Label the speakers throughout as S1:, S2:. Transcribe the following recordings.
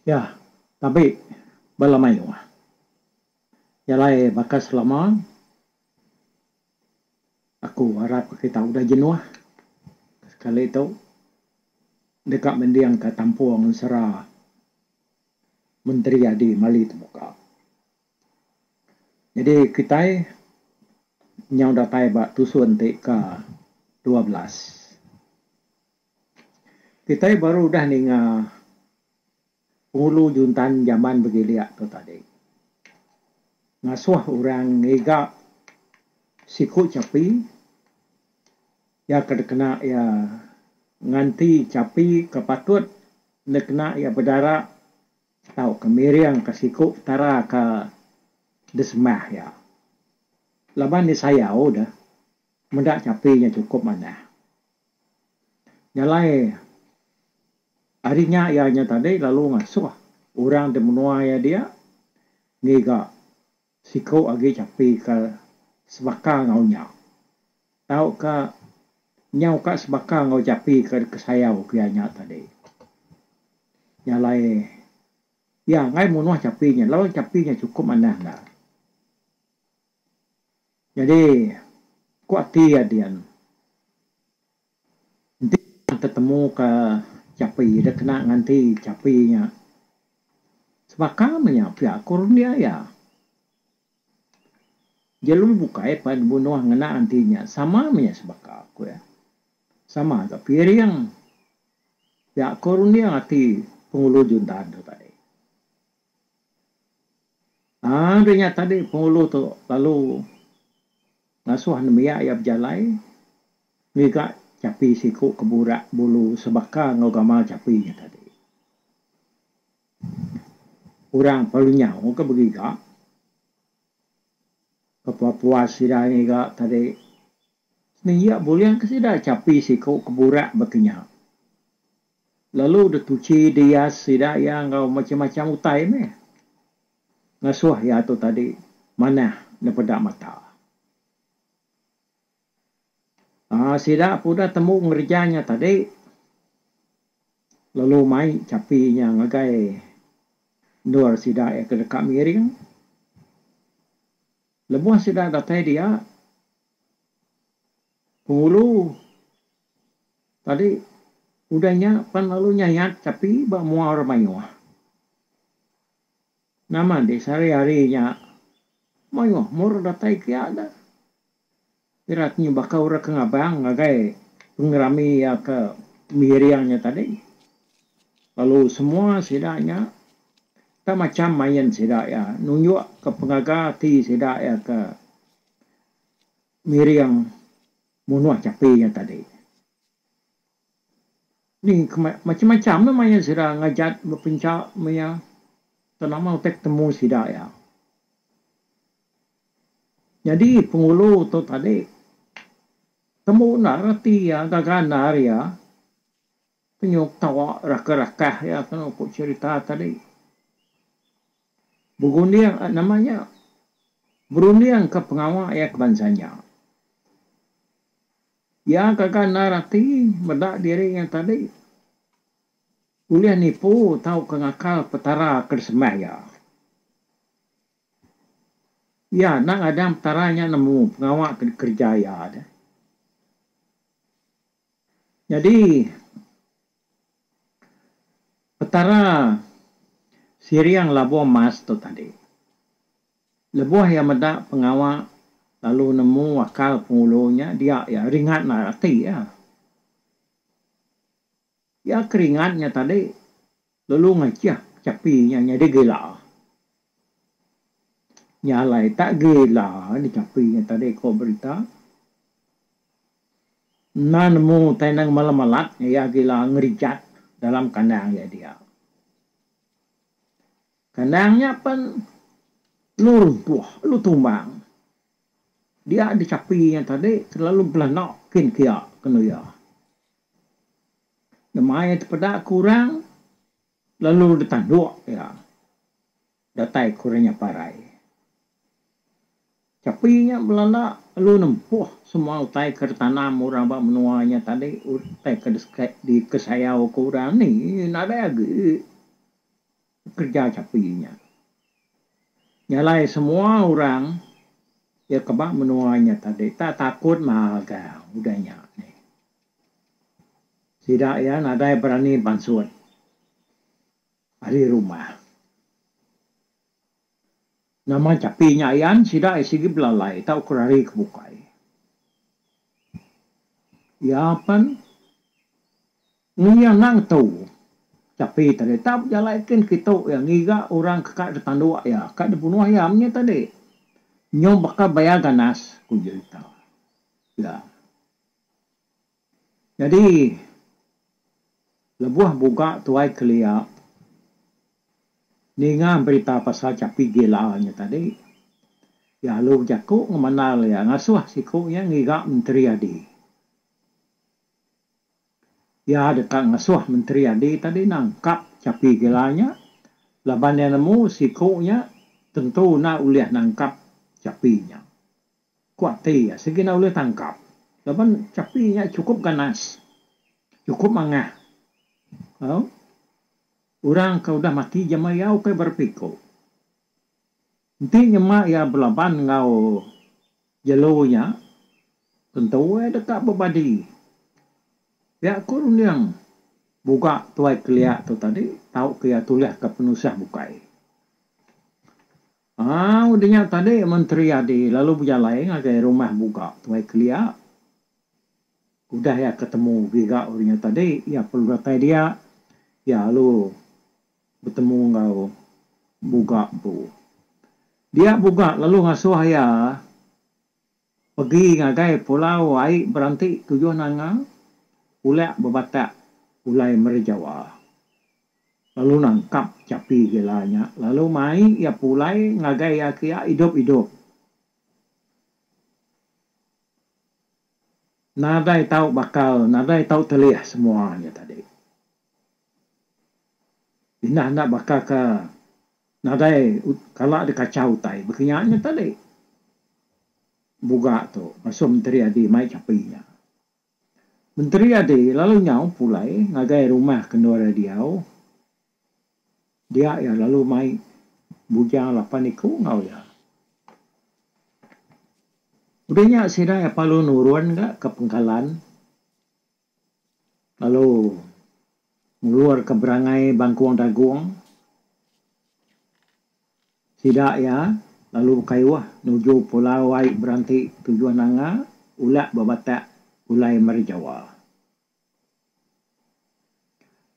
S1: Iya tabi bala mayuh iya alai baka selama aku arap kita udah jenuh sekali tu deka mending ka kampung sera menteri adi mali temuka jadi kitai nyau datai ba tusun ti ke dua belas. Kitai baru udah ninga pengulu juntan jaman begilik tu tadi. Ngasuh orang ngiga siku chapi iya ke dikena iya nganti chapi ke patut enda kena iya bedara tauka miringka siku Petara ke disembah iya. Laban disayau deh meda chapi nya chukup manah. Jalai ari nya iya nya tadi lalu ngasuh orang ti menua iya dia ngiga siku agi chapi ke sebaka enggau nya tauka nyau ka sebaka enggau chapi ke kesayau ke iya nya tadi. Jalai iya angai munuh chapi nya laban chapi nya chukup manah ne. Nyadi, ku ati iya dian, enti iya tetemuka chapi da kena nganti chapi nya, sebaka meh nya pia ku rendi iya. Jelu bukai pan bunuh ngena enti nya sama meh nya sebaka, ku iya. Sama ka piring. Pia ku runding ati Penghulu Juntan tu tadi. Ari nya tadi pengulu tu lalu ngasuh nembiak iya bejalai ngiga chapi siku ke burak bulu sebaka enggau gamal chapi nya tadi. Orang pelalu nyau ke begiga ke puas-puas sida ngiga tadi sehingga bulih ke sida chapi siku ke burak baka nya. Lalu deh tuchi dias sida iya enggau macham-macham utai meh. Ngasuh iya tu tadi manah nepeda mata. Aa sida pun udah tembu ngereja nya tadi lalu mai chapi nya ngagai endur sida iya ke deka miring. Lebuh sida datai dia Pengulu tadi udah nya pan lalu nyayat kapi ba mua orang mayuh. Nama enti sehari-hari nya mayuh meh orang datai ke iya dah. Ira ti nyebaka orang ke ngabang ngagai pengerami iya ke miring nya tadi. Lalu semua sida nya tak macam main sida iya nunjukka pengaga ati sida iya ke Ngiring munuh chapi nya tadi. Ni macham-macham meh maya sida ngajat bepencha maya Tun Amal utai betemu sida iya. Nyadi Penghulu tu tadi tembu enda reti iya gaga andar iya penyuk tawa raka-rakah iya kenu ku cherita tadi. Berunding a nama nya? Berunding ka pengawa iya ke bansa nya. Iya kaga endar ati meda diri iya tadi ulih nipu tauka ngakal Petara ke disembah iya. Iya enda ngadang Petara nya nemu pengawa ke dikereja iya. Nyadi. Petara siring labuh mas tu tadi. Lebuh iya meda pengawa lalu nemu akal pengulu nya dia iya ringat endar ati iya. Iya ke ringat nya tadi lalu ngajah chapi nya nyadi gila. Nya alai tak gila di chapi nya tadi ko berita. Enda nemu utai enda ngemala malat iya gila ngerijat dalam kandang iya dia. Kandang nya pen lu runtuh lu tumbang. Dia dichapi nya tadi kelalu belanda kin kia kenu iya. Nemai tepeda ke orang lalu ditanduk iya. Datai ku renya parai. Chapi nya belanda lalu nempuh semua utai ke ditanam orang ba menua nya tadi utai ke dikesayauka orang ni nadai agi kereja chapi nya. Nyalai semua orang iya ke ba menua nya tadi tak takut magang udah nya ni. Sida iya nadai berani bansut. Ari rumah. Nama chapi nya ian sida ai sigi belalai tau ke rari ke bukai. Iya pen ni iya enda ngetu chapi tadi tau bejalai kin kitu iya ngiga orang ke ka ditanduk iya ka dibunuh iya menya tadi nyau baka bayar ganas ku jerita iya. Nyadi lebuh buga tuai kelia ninga berita pasal chapi gila nya tadi, iya alu bejaku ngemandal iya ngasuh siku iya ngiga Menteri Adi. Iya deka ngasuh Menteri Adi tadi nangkap chapi gila nya laban iya nemu siku nya tentu enda ulih nangkap chapi nya. Ku ati iya, Segina ulih tangkap laban chapi nya chukup ganas, chukup mangah. Au, orang ke udah mati jama iya ukai berepiku. Enti nyema iya belaban enggau jelu nya, tentu iya deka bebadi. Pia ku runding buga Tuai Kelia tu tadi, tauka iya tulihka penusah bukai. Au denya tadi Menteri Adi lalu bejalai ngagai rumah Buga Tuai Kelia. Udah iya ke temu giga denya tadi iya perlu datai dia iya lalu betemu enggau Buga empu. Dia Buga lalu ngasuh iya. Pegi ngagai pulau ai beranti tujuh nanga ulak bebatak ulai meri Jawa lalu nangkap chapi gila nya lalu mai iya pulai ngagai iya kia idup idup nadai tau bakal nadai tau telih semua nya tadi. Indah enda baka ke nadai kala deh kachau utai baka nya nya tadi buga tu masu Menteri Adi mai chapi nya. Menteri Adi lalu nyau pulai ngagai rumah ke endur iya diau dia iya lalu mai bujang lapan iku enggau iya. Udah nya sida iya lalu nurun ga ke pengkalan. Lalu ngeluarka berangai bangkung dagung sida iya lalu bekayuh nuju pulau ai beranti tujuh nanga ulak ba batak pulai meri Jawa.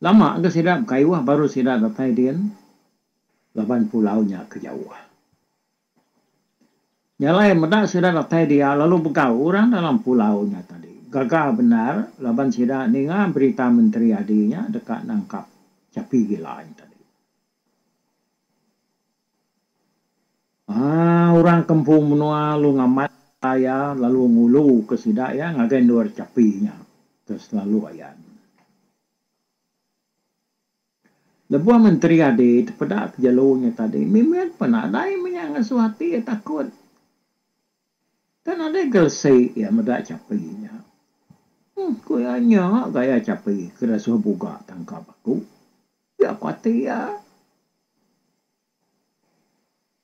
S1: Lama ga sida bekayuh baru sida datai din laban pulau nya ke jauh. Nya alai meda sida datai dia lalu begau orang dalam pulau nya tadi. Gaga bendar laban sida ninga berita menteri adi nya deka nangkap chapi gila nya tadi. Aaa orang kempung menua lalu ngamat ka iya lalu ngulu ka sida iya ngagai endur chapi nya ke selalu ayan. Lebuh menteri adi tepeda ke jelu nya tadi mimit pun nadai menya ngesuh ati iya takut. Tang nadai gelesi iya meda chapi nya. Huh ku iya nya gaya chapi ke ira suah buga tangkap aku. Pia ku ati iya.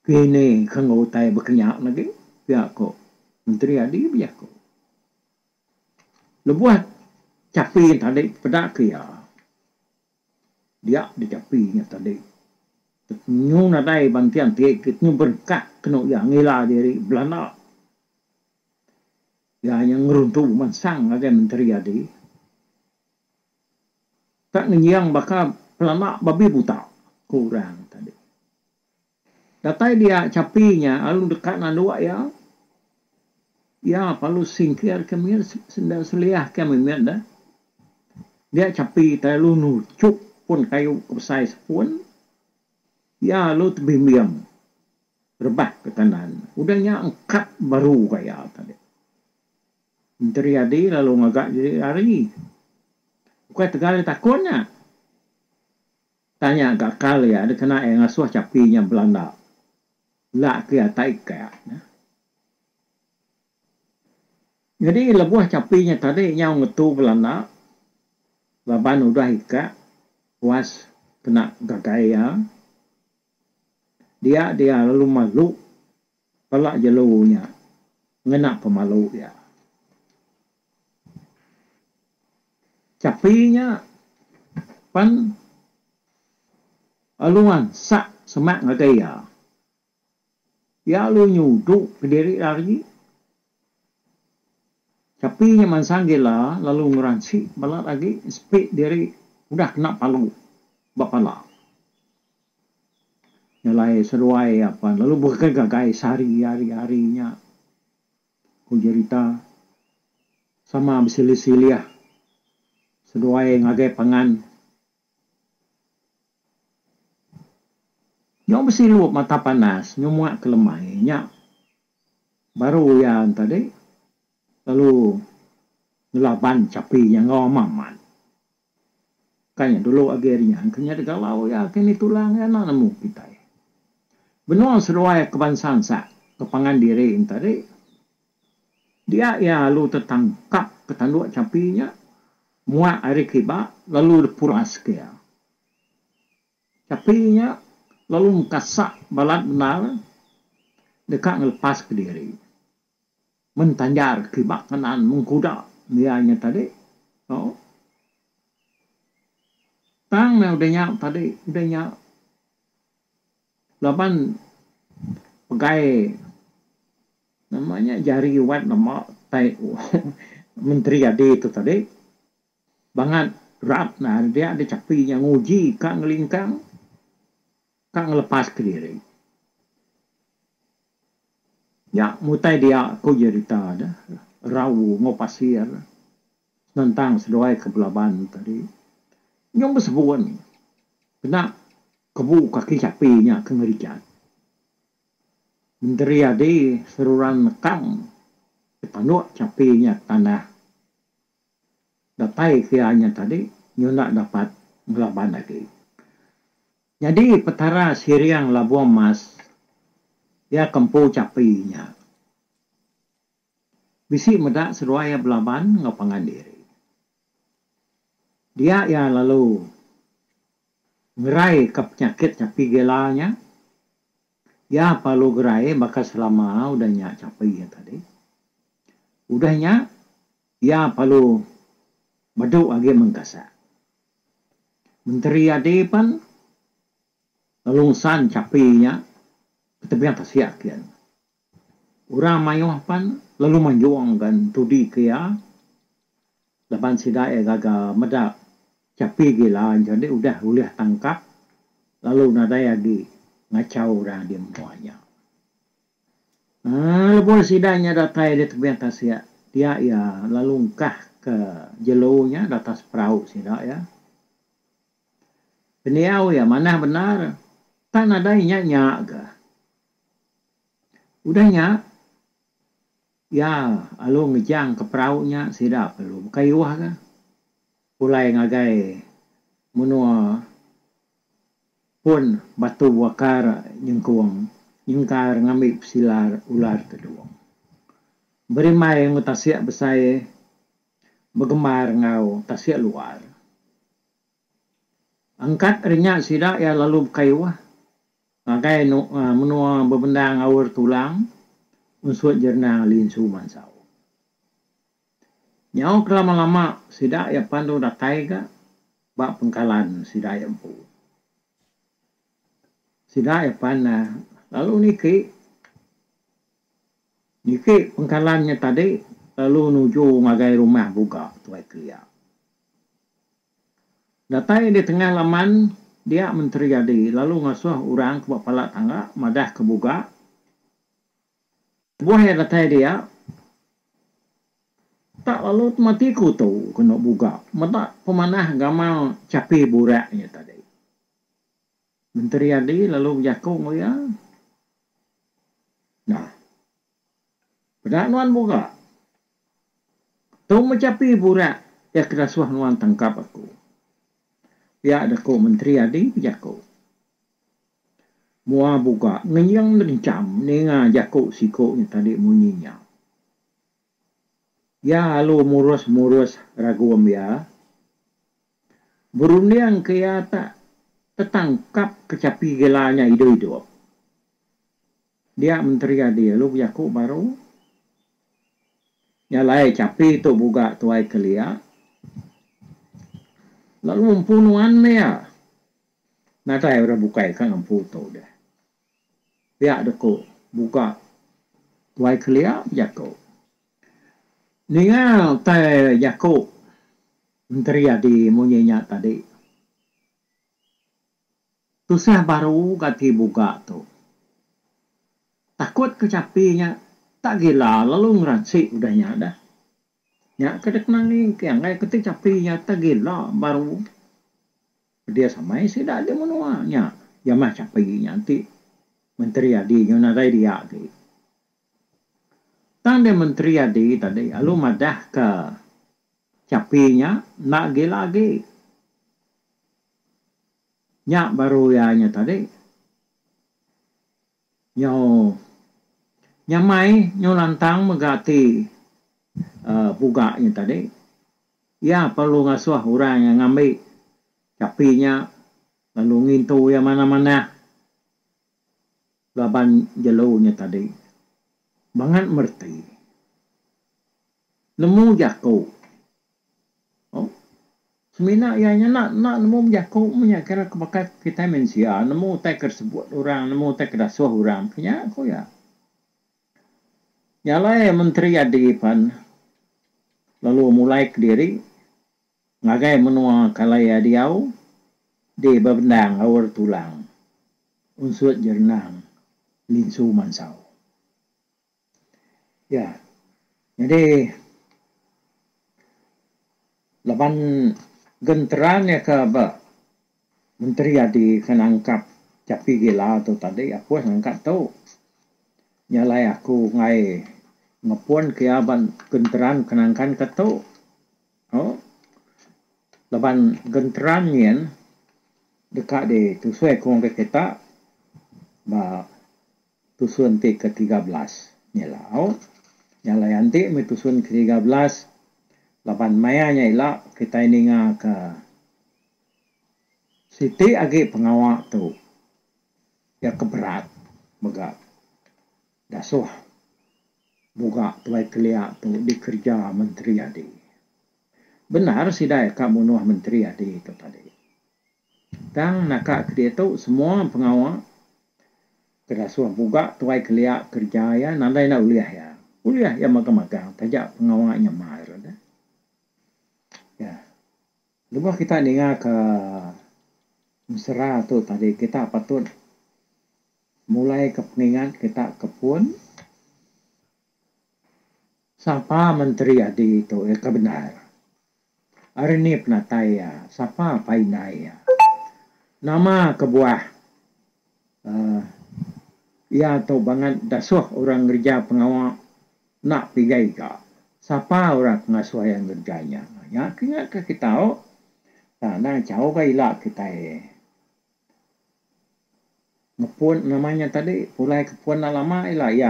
S1: Kini ke enggau utai bekenya agi pia ku menteri adi bejaku. Lebuh chapi tadi peda ke iya, dia dichapi nya tadi nyu nadai banting ati ke nyu berengkah kenu iya ngila diri belanda. Iya nya ngeruntu bemansang ngagai menteri adi ka ngenying baka belanda babi buta, ku orang tadi. Datai dia chapi nya lalu deka nanduk iya, iya parlu singkir ke mit senda seliah ke meh mit deh. Dia chapi ti lalu nuchup pun kayu ke besai sepun, iya lalu tebimbing rebah ke kanan. Udah nya engkap baru ka iya tadi. Menteri Yadi lalu ngaga diri lari. Ukai tegal ditakun nya. Tanya ka kal iya dikena iya ngasuh chapi nya belanda. Enda ke iya tak ikak nya. Nyadi lebuh chapi nya tadi nyau ngetu belanda laban udah ikak puas kena gagai iya. Dia dia lalu malu. Pala jelu nya ngena pemalu iya. Chapi nya pan alu ansak semak ngagai iya. Iya alu nyudu kediri iya agi. Chapi nya mansang gila lalu ngeransi balat agi sepi diri udah kena palu ba pala. Nya alai seduai iya pan lalu beken ngagai sehari ari ari nya ku jerita sama besilih silih seduai ngagai pangan. Nyau besilu mata panas nyau muak kelemai nya Baru iya tadi lalu ngelaban chapi iya enggau Mamat. Ka nya dulu agi ari nya engka nya digalau iya ke ni tulang iya enda nemu kitai. Benung seduai ke bansa ensa ke pangan diri tadi dia iya lalu tetangkap ke tandu chapi nya muak ari kiba lalu dipuraska iya. Tapi nya lalu mekasak balat bendar deka ngelepaska diri. Men tanjar kiba kenaan mengkuda dia nya tadi, oh. Tang meh udah nya tadi, udah nya laban pegai nama nya jari wat lema tai menteri adi tu tadi. Bangat rap nah ari dia di chapi nya nguji ka ngelingkang ka ngelepas ke diri. Nya mutai dia ku jerita de rau enggau pasir senentang seduai ke belaban tadi nyau besebun kena kebu kaki chapi nya ke ngerijat. Menteri adi seruran nekang ke tanuk chapi nya ke tanah. Datai ke anya tadi nyunak dapat ngelaban agi. Nyadi Petara Siring Labung Emas iya ke empu chapi nya. Bisi meda seduai iya belaban enggau pangan diri. Dia iya lalu ngerai ka penyakit chapi gila nya. Iya perlu gerai baka selama udah nya chapi iya tadi. Udah nya Iya perlu medu agi mengkasa. Menteri adi pan lalu ngesan chapi nya ke tebing tasik kian. Orang maioh pan lalu manjong ga entudi ke iya laban sida iya gaga meda chapi gila jadi udah ulih tangkap lalu nadai agi ngachau orang adi menua nya. Lebuh sida nya datai ari tebiang tasik dia iya lalu engkahka jelu nya di atas perau sida iya. Pendiau iya manah bendar tang nadai inya nya ga. Udah nya iya lalu ngejangka perau nya sida perlu bekayoh ga pulai ngagai menua Pun batu wakar nyengkung nyengkar ngambi pesilar ular tedung. Berimbai enggau tasik besai begemar enggau tasik luar. Angkat ari nya sida iya lalu bekayuh ngagai menua bebendang Aur Tulang unsut Jernang Linsu Mansau. Nyau kelama-lama sida iya pandu datai ga ba pengkalan sida iya empu. Sida iya pan lalu niki, niki pengkalan nya tadi lalu nuju ngagai rumah buga Tuai Kelia. Datai di tengah laman dia Menteri Adi lalu ngasuh orang ke ba pala tangga madah ke buga Kebuah iya datai dia, tak lalu temati ku tu kena buga meda pemanah gamal chapi burak iya tadi. Menteri Adi lalu bejaku enggau iya, Nah, peda nuan buga. Tu meh chapi burak iya ke dasuh nuan tangkap aku. Pia da ku Menteri Adi bejaku. Mua buka ngeyeng ngencham ninga jaku siku nya tadi munyi nya. Iya lalu murus-murus ragung iya. Berunding ke iya tak tetangkap kechapi gila nya idup-idup. Dia Menteri Adi lalu bejaku baru, Nya alai chapi tu buga Tuai Kelia. Lalu empu nuan meh iya. Nadai orang bukai ka ngempu tu deh. Pia deh ku buka tuai kelia bejaku. Ninga utai jaku Menteri Adi munyi nya tadi. Tusah baru ga agi buga tu. Takut ke chapi nya tak gila lalu ngeransi udah nya deh. Nya ke dikena nginki anggai ke ti chapi nyata gila baru dia samai sida di menua nya iya meh chapi nya enti menteri adi nyau nadai dia agi. Tang dia menteri adi tadi lalu madahka chapi nya enda gila agi. Nya baru iya nya tadi. Nyau nyamai, nyau lantang mega ati puga nya tadi. Iya perlu ngasuh orang iya ngambi chapi nya lalu ngintu iya manah-manah laban jelu nya tadi. Bangat mereti. Nemu jaku. O Semina iya nya enda enda nemu bejaku meh nya kira ke baka kitai mensia nemu utai ke disebut orang nemu utai ke dasuh orang meh ke nya ku iya. Nya alai menteri adi pan lalu mulai kediri ngagai menua ke alai iya diau di bebendang Aur Tulang unsut jerenang Linsu Mansau. Ya. Nyadi laban gentra nya ke ba menteri adi ke nangkap Chappy Gila tu tadi Apoy ngangkat tu nya alai aku ngai ngepun ke iya ba gentra ke nangkan ke tu oh laban gentra nyin deka ditusui ke orang kita ba Tusun ti ke tiga belas nyilau nya alai anti meh tusun ke tiga belas laban maya nya ila kitai ninga ke siti agi pengawa tu iya ke berat mega dasuh muga tuai kelia tu dikereja menteri adi. Bendar sida ka munuh menteri adi tu tadi. Tang naka ke diatu semua pengawa ke ngasuh empuga tuai kelia kerja iya nadai enda ulih iya. Ulih iya magang magang taja pengawa nya mar enda. Iya. Lebuh kita ninga ke mesra tu tadi kita patut mulai ke pengingat kita ke pun. Sapa menteri adi tu iya ke bendar? Ari ni penatai iya? Sapa pai indai iya? Nama kebuah uhh iya tu bangat dasuh orang ngereja pengawa enda pigai ga? Sapa orang ke ngasuh iya ngereja nya? Nya ke nya ke kita tau. Tang enda chau ga ila kitai. Mepun nama nya tadi pulai ke pun enda lama ila iya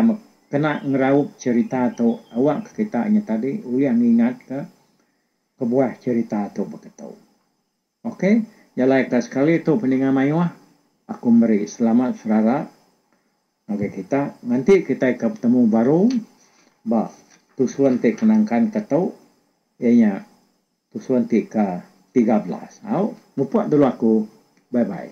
S1: kena ngeraup cerita tu awak ke kita nya tadi ulih ngingat ka kebuah cerita tu baka tu. Ok jalai ka sekali tu peninga mayuh aku meri selamat serara ngagai kita nganti kita ika betemu baru ba tusun ti kenangkan ka tu iya nya Tusun ti ke tiga belas. Au, mupuk dulu aku. Bye bye.